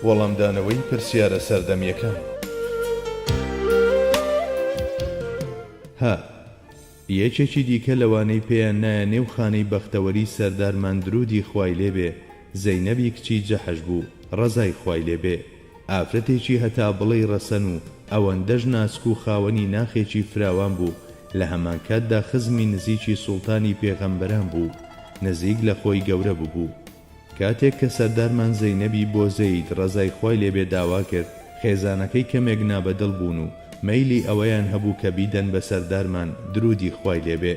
وەڵامدانەوەی پرسیارە سەردەمییەکان هە یەکێکی دیکە لەوانەی پێیان نایە نێو خانەی بەختەوەری سەردارمان درودی خوای لێبێ زەینەبی کچی جەحش بوو ڕەزای خوای لێبێ ئافرەتێکی هەتا بڵێی ڕەسەن و ئەوەندەش ناسک و خاوەنی ناخێکی فراوان بوو، لە هەمانکاتدا خزمی نزیکی سوڵتانی پێغەمبەران بوو، نزیک لە خۆی گەورە ببوو. کاتێک کە سەردارمان زەینەبی بۆ زەید ڕەزای خوای لێ بێ داوا کرد، خێزانەکەی کەمێک نابەدڵ بوون و مەیلی ئەوەیان هەبوو کە بیدەن بە سەردارمان دروودی خوای لێ بێ،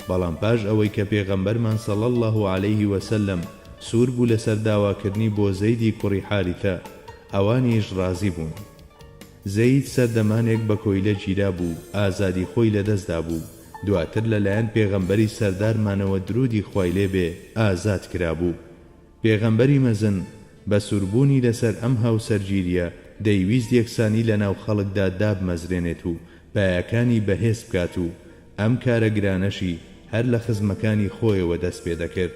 بەڵام پاش ئەوەی کە پێغەمبەرمان صلی اللە علیه وسلم سوور بوو لەسەر داواکردنی بۆ زەیدی کوڕی حارثە ئەوانیش ڕازی بوون. زەید سەردەمانێک بە کۆیلە گیرا بوو ئازادی خۆی لە دەست دابوو دواتر لە لایەن پێغەمبەری سەردارمانەوە درودی خوای لێ بێ ئازاد کرابوو. پێغەمبەری مەزن بە سوربوونی لەسەر ئەم هاوسەرگیریە دەیویست یەکسانی لەناو خەڵکدا دابمەزرێنێت و پایەکانی بەهێز بکات و ئەم کارە گرانەشی هەر لە خزمەکانی خۆیەوە دەست پێدەکرد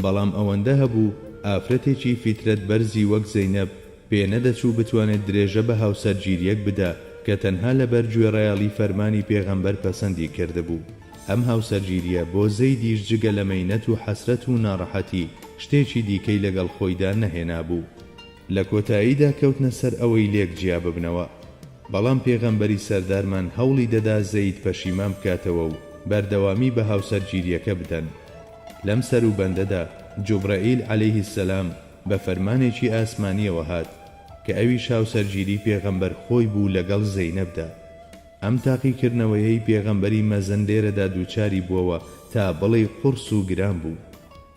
بەڵام ئەوەندە هەبوو ئافرەتێکی فیترەت بەرزی وەک زەینەب پێ نەدەچوو بتوانێت درێژە بە هاوسەرگیرییەک بدا کە تەنها لەبەر گوێڕایەڵی فەرمانی پێغەمبەر پەسەندی کردبوو. ئەم هاوسەرگیرییە بۆ زەیدیش جگە لە مەینەت و حەسرەت و ناڕەحەتی شتێکی دیکەی لەگەڵ خۆیدا نەهێنابوو. لە کۆتاییدا کەوتنە سەر ئەوەی لێک جیا ببنەوە. بەڵام پێغەمبەری سەردارمان هەوڵی دەدا زەید پەشیمان بکاتەوە و بەردەوامی بە هاوسەرگیرییەکە بدەن. لەم سەروبەندەدا جوبرەئیل عەلەیه سەلام، بە فەرمانێکی ئاسمانیەوە هات کە ئەویش هاوسەرگیری پێغەمبەر خۆی بوو لەگەڵ زەینەبدا ئەم تاقیکردنەوەیەی پێغەمبەری مەزن لێرەدا دووچاری بووەوە تا بڵێی قوڕس و گران بوو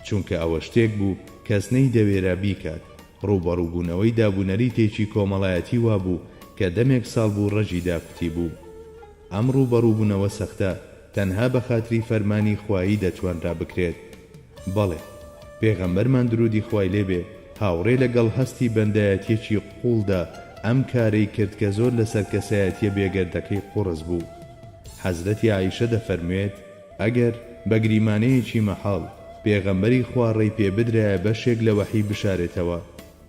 چونکە ئەوە شتێک بوو کەس نەیدەوێرا بیکات ڕووبەڕووبوونەوەی دابونەریتێکی کۆمەڵایەتی وابوو کە دەمێک ساڵ بوو ڕەگی داکوتیبوو ئەم ڕووبەڕووبونەوە سەختە تەنها بەخاتری فەرمانی خوایی دەتوانرا بکرێت بەڵێ پێغەمبەرمان درودی خوای لێ بێ هاوڕێ لە گەڵ هەستی بەندایەتیەکی قوڵدا ئەم کارەی کرد کە زۆر لەسەر کەسایەتیە بێگەردەکەی قوڕس بوو حەزرەتی عائیشە دەفەرموێت ئەگەر بە گریمانەیەکی مەحاڵ پێغەمبەری خوا ڕێی پێ بدرایە بەشێک لە وەحی بشارێتەوە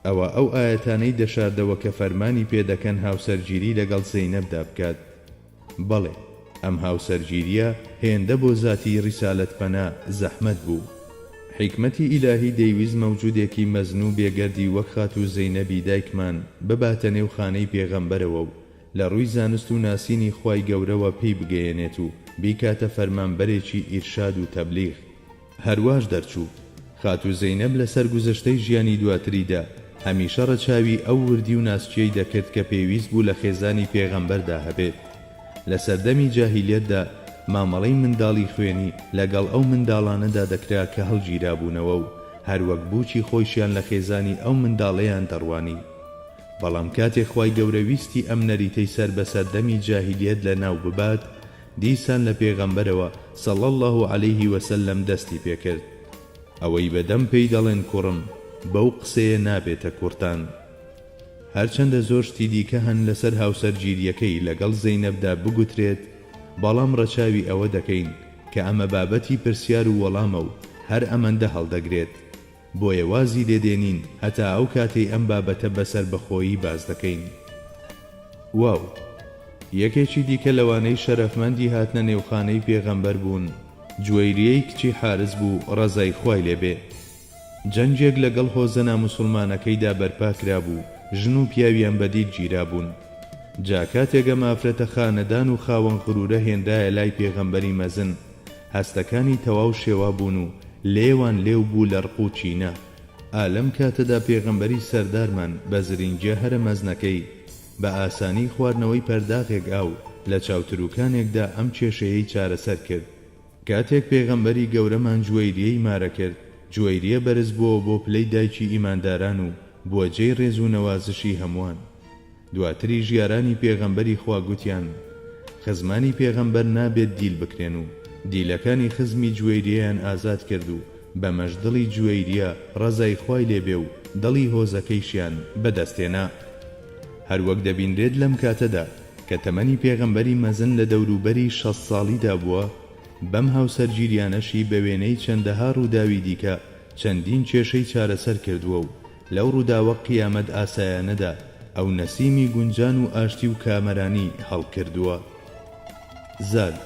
ئەوا ئەو ئایەتانەی دەشاردەوە کە فەرمانی پێ دەکەن هاوسەرگیری لەگەڵ زەینەبدا بکات بەڵێ ئەم هاوسەرگیریە هێندە بۆ زاتی ریسالەت پەنا زەحمەت بوو. حیکمەتی ئیلاهی دەیویست مەوجودێکی مەزن و بێگەردی وەک خاتوو زەینەبی دایکمان بباتە نێو خانەی پێغەمبەرەوە و لە رووی زانست و ناسینی خوای گەورەوە پێی بگەیەنێت و بیکاتە فەرمانبەرێکی ئیرشاد و تەبلیغ، هەرواش دەرچوو. خاتوو زەینەب لە سەرگوزشتەی ژیانی دواتریدا، هەمیشە ڕەچاوی ئەو وردی و ناسکییەی دەکرد کە پێویست بوو لە خێزانی پێغەمبەردا هەبێت. لە سەردەمی جاهیلیەتدا، مامەڵەی منداڵی خوێنی لەگەڵ ئەو منداڵانەدا دەکرا کە هەڵگیرابوونەوە و هەر وەک بووکی خۆیشیان لە خێزانی ئەو منداڵەیان دەڕوانی. بەڵام کاتێ خوای گەورە ویستی ئەم نەریتەی سەر بە سەردەمی جاهیلیەت لەناو ببات، دیسان لە پێغەمبەرەوە صلی اللە علیه و سلم دەستی پێکرد ئەوەی بە دەم پێی دەڵێن کوڕم بەو قسەیە نابێتە کوڕتان هەرچەندە زۆر شتی دیکە هەن لەسەر هاوسەرگیریەکەی لەگەڵ زەینەبدا بگوترێت بەڵام ڕەچاوی ئەوە دەکەین کە ئەمە بابەتی پرسیار و وەڵامە و هەر ئەمەندە هەڵدەگرێت. بۆیە وازی لێ دێنین هەتا ئەو کاتەی ئەم بابەتە بە سەربەخۆیی باس دەکەین. واو. یەکێکی دیکە لەوانەی شەرەفمەندی هاتنە نێوخانەی پێغەمبەر بوون، جوەیریەی کچی حارس بوو ڕەزای خوای لێ بێ. جەنگێک لە گەڵ هۆزە ناموسوڵمانەکەیدا بەرپا کرابوو، ژن و پیاویان بە دیل گیرابوون. جا کاتێک ئەم ئافرەتە خانەدان و خاوەن غرورە هێنرایە لای پێغەمبەری مەزن، هەستەکانی تەواو شێوا بوون و لێوان لێو بوو لە ڕق و کینە. ئا لەم کاتەدا پێغەمبەری سەردارمان بە زرینگیە هەرە مەزنەکەی، بە ئاسانی خواردنەوەی پەرداغێک ئاو لە چاوتروکانێکدا ئەم کێشەیەی چارەسەر کرد. کاتێک پێغەمبەری گەورەمان جوەیریەی مارە کرد، جوەیریە بەرز بووەوە بۆ پلەی دایکی ئیمانداران و بووە جێی ڕێز و نەوازشی هەمووان. دواتریش یارانی پێغەمبەری خوا گوتیان، خزمانی پێغەمبەر نابێت دیل بکرێن و دیلەکانی خزمی جوەیریەیان ئازاد کرد و بەمەش دڵی جوەیریە ڕەزای خوای لێ بێ و دڵی هۆزەکەیشیان بە دەست هێنا. هەر وەک دەبینرێت لەم کاتەدا کە تەمەنی پێغەمبەری مەزن لە دەوروبەری شەست ساڵیدا بووە، بەم هاوسەرگیریانەشی بە وێنەی چەندەها ڕووداوی دیکە چەندین کێشەی چارەسەر کردووە و لەو ڕووداوە قیامەت ئاسایانەدا ئەو نەسیمی گونجان و ئاشتی و کامەرانی هەڵکردووە. زاد،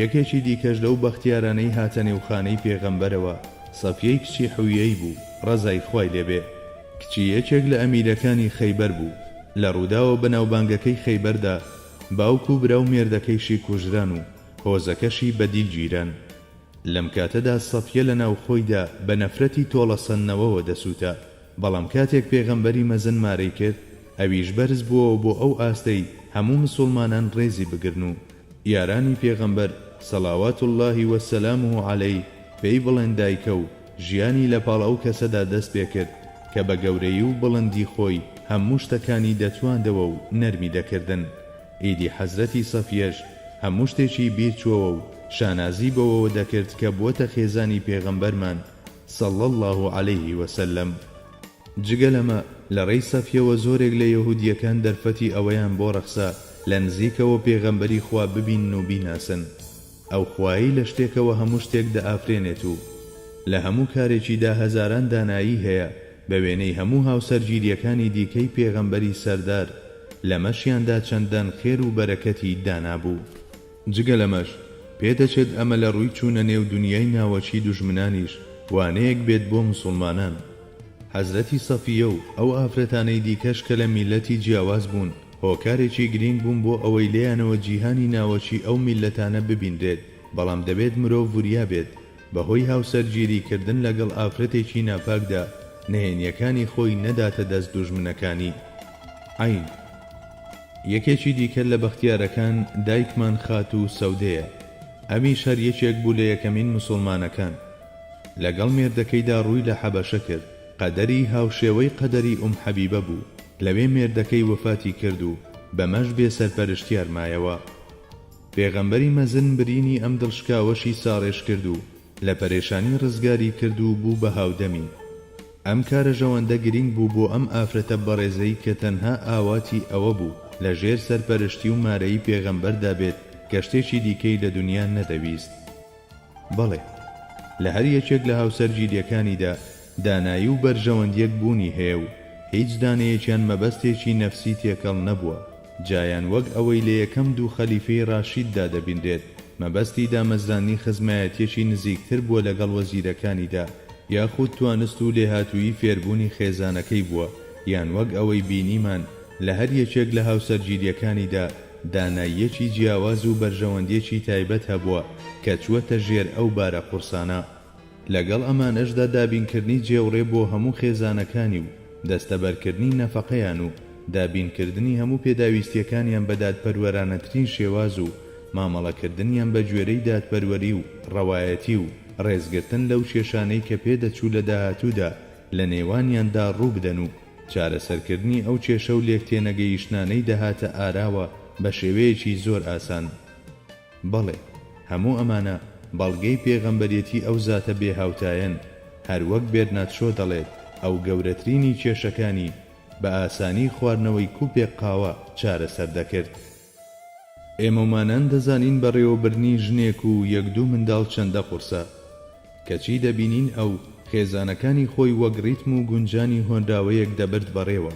یەکێکی دیکەش لەو بەختیارانەی هاتە نێو خانەی پێغەمبەرەوە، سەفیەی کچی حویەی بوو، ڕەزای خوای لێ بێ، کچی یەکێک لە ئەمیرەکانی خەیبەر بوو، لە ڕووداوە بەناوبانگەکەی خەیبەردا باوک و برا و مێردەکەیشی کوژران و هۆزەکەشی بەدیل گیران. لەم کاتەدا سەفیە لە ناو خۆیدا بە نەفرەتی تۆڵەسەندنەوەوە دەسووتا، بەڵام کاتێک پێغەمبەری مەزن مارەی کرد، ئەویش بەرز بووەوە بۆ ئەو ئاستەی هەموو مسوڵمانان ڕێزی بگرن و یارانی پێغەمبەر، صلوات اللە و سلامه علیه، پێی بڵێن دایکە و ژیانی لە پاڵ ئەو کەسەدا دەست پێ کرد کە بە گەورەیی و بڵندی خۆی هەموو شتەکانی دەتواندەوە و نەرمی دەکردن. ئیدی حەزرەتی سەفیەش هەموو شتێکی بیر چۆوە و شانازی بەوەوە دەکرد کە بووەتە خێزانی پێغەمبەرمان صلی اللە علیه و سلم. جگە لەمە لە ڕێی سەفیەوە زۆرێک لە یەهودییەکان دەرفەتی ئەوەیان بۆ ڕەخسا لە نزیکەوە پێغەمبەری خوا ببینن و بیناسن، ئەو خوایەی لە شتێکەوە هەموو شتێک دەئافرێنێت و لە هەموو کارێکیدا هەزاران دانایی هەیە بە وێنەی هەموو هاوسەرگیرییەکانی دیکەی پێغەمبەری سەردار لەمەشیاندا چەندان خێر و بەرەکەتی دانابوو جگە لەمەش پێدەچێت ئەمە لە ڕووی چوونە نێو دونیای ناوەکی دوژمنانیش وانەیەک بێت بۆ موسوڵمانان حەزرەتی سەفییە و ئەو ئافرەتانەی دیکەش کە لە میللەتی جیاواز بوون، هۆکارێکی گرینگ بوون بۆ ئەوەی لێیانەوە جیهانی ناوەکی ئەو میللەتانە ببینرێت، بەڵام دەبێت مرۆڤ وریا بێت بە هۆی هاوسەرگیری کردن لەگەڵ ئافرەتێکی ناپاکدا نهێنیەکانی خۆی نەداتە دەست دوژمنەکانی. عەین. یەکێکی دیکە لە بەختیارەکان دایکمان خاتوو سەودەیە، ئەمیش هەر یەکێک بوو لە یەکەمین مسوڵمانەکان. لەگەڵ مێردەکەیدا ڕووی لە حەبەشە کرد. قەدەری هاوشێوەی قەدەری ئوم حەبیبە بوو، لەوێ مێردەکەی وەفاتی کرد و بەمەش بێ سەرپەرشتیار مایەوە. پێغەمبەری مەزن برینی ئەم دڵشکاوەشی ساڕێژ کرد و لە پەرێشانی ڕزگاری کرد و بوو بە هاودەمی. ئەم کارەژەوەندە گرینگ بوو بۆ ئەم ئافرەتە بەڕێزەی کە تەنها ئاواتی ئەوە بوو لە ژێر سەرپەرشتی و مارەیی پێغەمبەردا بێت کە شتێکی دیکەی لە دونیا نەدەویست. بەڵێ، لە هەر یەکێک لە هاوسەرگیرییەکانیدا دانایی و بەرژەوەندییەک بوونی هەیە و هیچ دانەیەکیان مەبەستێکی نەفسی تێکەڵ نەبووە، جا یان وەک ئەوەی لە یەکەم دوو خەلیفەی ڕاشیددا دەبینرێت مەبەستی دامەزراندنی خزمایەتییەکی نزیکتر بووە لەگەڵ وەزیرەکانیدا، یاخود توانست و لێهاتوویی فێربوونی خێزانەکەی بووە، یان وەک ئەوەی بینیمان لە هەر یەکێک لە هاوسەرگیرییەکانیدا، داناییەکی جیاواز و بەرژەوەندیەکی تایبەت هەبووە کە چووەتە ژێر ئەو بارە قورسانە. لەگەڵ ئەمانەشدا دابینکردنی جێوڕێ بۆ هەموو خێزانەکانی و دەستەبەرکردنی نەفەقەیان و دابینکردنی هەموو پێداویستیەکانیان بە دادپەروەرانەترین شێواز و مامەڵەکردنیان بە گوێرەی دادپەروەری و ڕەوایەتی و ڕێزگرتن لەو کێشانەی کە پێدەچوو لە داهاتوودا لە نێوانیاندا ڕووبدەن و چارەسەرکردنی ئەو کێشە و لێکتێنەگەیشتنانەی دەهاتە ئاراوە بە شێوەیەکی زۆر ئاسان. بەڵێ، هەموو ئەمانە بەڵگەی پێغەمبەرێتی ئەو زاتە بێ هاوتایەن، هەروەک بێرنات شۆ دەڵێت ئەو گەورەترینی کێشەکانی بە ئاسانی خواردنەوەی کوپێک قاوە چارەسەر دەکرد. ئێمەومانان دەزانین بەڕێوەبردنی ژنێک و یەک دوو منداڵ چەندە قورسە، کەچی دەبینین ئەو، خێزانەکانی خۆی وەک ڕیتم و گونجانی هۆنراوەیەک دەبرد بەڕێوە.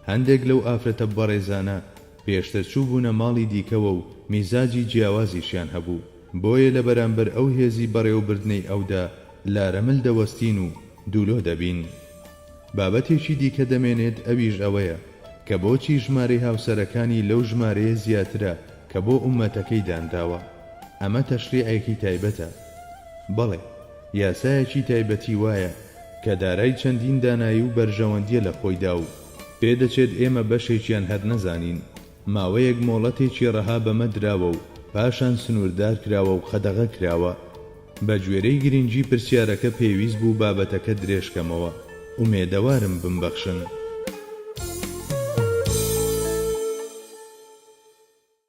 هەندێک لەو ئافرەتە بەڕێزانە پێشتر چووبوونە ماڵی دیکەوە و میزاجی جیاوازیشیان هەبوو، بۆیە لە بەرامبەر ئەو هێزی بەڕێوەبردنەی ئەودا لارەمل دەوەستین و دوولۆ دەبین. بابەتێکی دیکە دەمێنێت ئەویش ئەوەیە کە بۆچی ژمارەی هاوسەرەکانی لەو ژمارەیە زیاترە کە بۆ ئوممەتەکەی دانراوە؟ ئەمە تەشریعێکی تایبەتە؟ بەڵێ، یاسایەکی تایبەتی وایە کە دارای چەندین دانایی و بەرژەوەندییە لە خۆیدا و پێدەچێت ئێمە بەشێکیان هەر نەزانین، ماوەیەک مۆڵەتێکی ڕەها بەمە دراوە و پاشان سنووردار کراوە و قەدەغە کراوە. بە گوێرەی گرینگی پرسیارەکە پێویست بوو بابەتەکە درێژ کەمەوە. ئومێدەوارم بمبەخشن.